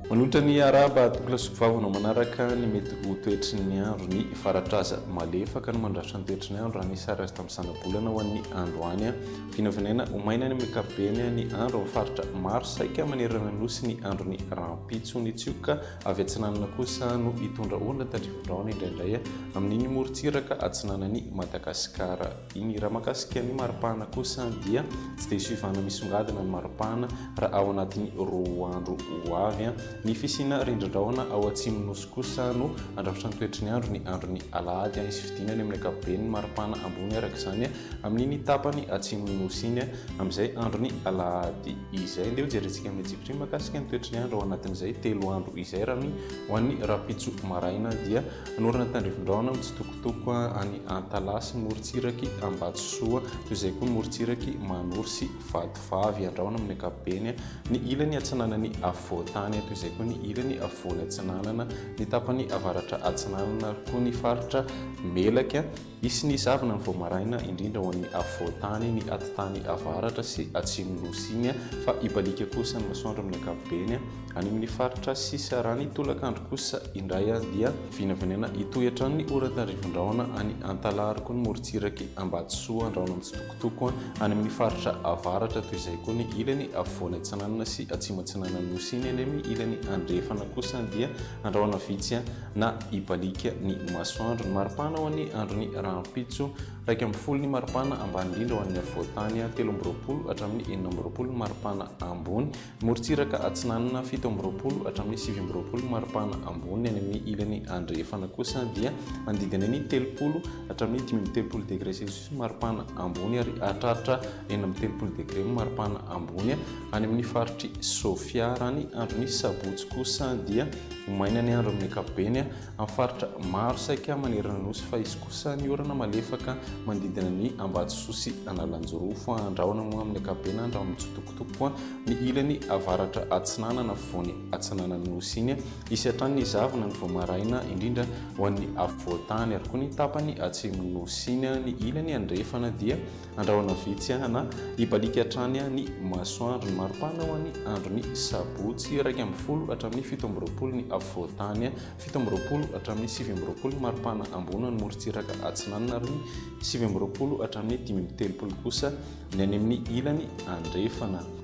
Manolotra ny arahaba Atokla Soa Vava anao manaraka ny mety ho toetry ny andro ny Faratraza malefaka no mandrafitra ny toetry ny andro raha ny sary azo tamin'ny zanabolana ho an'ny androany vinavinaina ho maina ny ankapobeny ny andro amin'ny faritra maro saika manerana ny nosy ny andron'ny rahampitso ny tsioka Avy atsinanana kosa no hitondra olona tandrivo-drahona indraindray amin'iny morontsiraka atsinanan'i Madagasikara iny. Raha mahakasika ny maripana kosa dia tsy dia soivana misongadina ny maripana raha ao anatin'ny roa andro ho avy. Ny fisiana rindrin-drahona ao Atsimon'ny Nosy kosa no handrafitra ny toetry ny andro ny andron'ny alahady. Hisy fidinany amin'ny ankapobeny ny maripana ambony araka izany. Amin'iny tapany atsimon'ny Nosy iny, amin'izay andron'ny alahady izay. Andeha hojerentsika amin'ny tsipiriany mahakasika ny toetry ny andro ao anatin'izay telo andro izay raha ny ho an'ny rahampitso maraina dia hanorina ny tandrifin-drahona mitsitokotoko any Antalaha morontsiraky Ambatosoa toy izay koa ny morontsiraky Manoro sy Vatovavy andrahona amin'ny ankapobeny ny ilany atsinanan'ny afovoantany toy izay koa ny ilany afovoany atsinanana ny tapany avaratra atsinanana ary koa ny faritra Melaky Hisy ny zavona vao maraina, indrindra ho an'ny afovoan-tany, ny atitany avaratra sy atsimon'i Nosy iny, fa hibaliaka kosa ny masoandro amin'ny ankapobeny. Any amin'ny faritra sisa raha ny tolakandro kosa indray dia vinavinaina hitohy hatrany ny oran-tandrivindraona any Antalaroko, ny morontsiraky Ambatosoa, andrahona mitsitokotoko any amin'ny faritra avaratra, toy izay koa ny ilany afovoany atsinanana sy atsimo-atsinanan'i Nosy iny, any amin'ny ilany andrefana kosa dia andrahona vitsy na hibaliaka ny masoandro. Ny maripana ho an'ny andron'ny rahampitso, iraika ambin'ny folo ny maripana ambany indrindra ho an'ny afovoan-tany, telo amby roapolo hatramin'ny enina amby roapolo ny maripana ambony, morontsiraka atsinanana, fito amby roapolo hatramin'ny sivy amby roapolo ny maripana ambony, any amin'ny ilany andrefana kosa dia manodidina ny telopolo hatramin'ny dimy amby telopolo degre celsius ny maripana ambony ary hahatraritra enina amby telopolo degre ny maripana ambony. Any amin'ny faritr'i Sofia raha ny andron'ny sabotsy kosa dia ho maina ny andro amin'ny ankapobeny amin'ny faritra maro saika manerana ny nosy fa hisy kosa ny orana malefaka manodidina ny Ambatosoa sy Analanjirofo. Andrahona moa amin'ny ankapobeny andro amin'ny tsotokotoko ny ilany avaratra atsinanana afovoany atsinanan'ny nosy iny. Hisy hatrany ny zavona ny vao maraina indrindra ho an'ny afovoan-tany ary koa ny tapany atsimon'ny nosy iny. Ny ilany andrefana dia Andrahona vitsy ana hibaliaka hatrany ny masoandro. Ny maripana ho an'ny andron'ny sabotsy iraika ambin'ny folo hatramin'ny fito amby roapolo ny afovoan-tany, fito amby roapolo hatramin'ny sivy amby roapolo ny maripana ambony ho an'ny morontsiraka atsinanana ary ny sivy amby roapolo hatramin'ny dimy amby telopolo kosa ny any amin'ny ilany andrefana.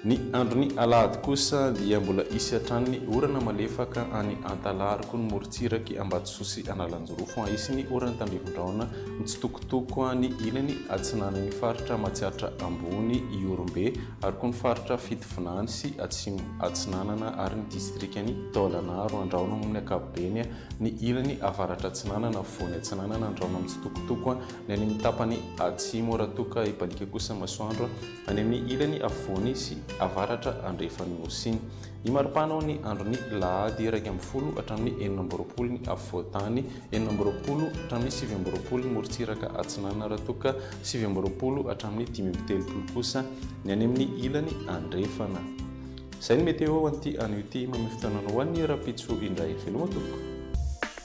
Ny andron'ny alahady kosa dia mbola hisy hatrany ny orana malefaka any Antalaroko, ny morontsirak'i Ambatosoa sy Analanjirofo. Hisy ny oran'ny tandrifin-drahona mitsitokotoko any ilany atsinanan'ny faritra Matsiatra Ambony, Ihorombe ary koa ny faritra Fitovinany sy Atsimo Atsinanana ary ny distrikan'i Taolagnaro andrahono amin'ny ankapobeny, ny ilany avaratra-atsinanana afovoany atsinanana andrahono mitsitokotoko ny any amin'ny tapany atsimo raha toa ka hibaliaka kosa masoandro. Any amin'ny ilany afovoany sy avaratra andrefan'ny Nosy iny. Ny maripana ao ny andron'ny lahady iraika ambin'ny folo hatramin'ny enina amby roapolo ny afovoan-tany, enina amby roapolo hatramin'ny sivy amby roapolo ny morontsiraka atsinanana raha toa ka sivy amby roapolo hatramin'ny dimy amby telopolo kosa ny any amin'ny ilany andrefana. Izay ny météo ho an'ity anio ity. Mamehy fotoananao ho an'ny rahampitso indray veloma tompoko.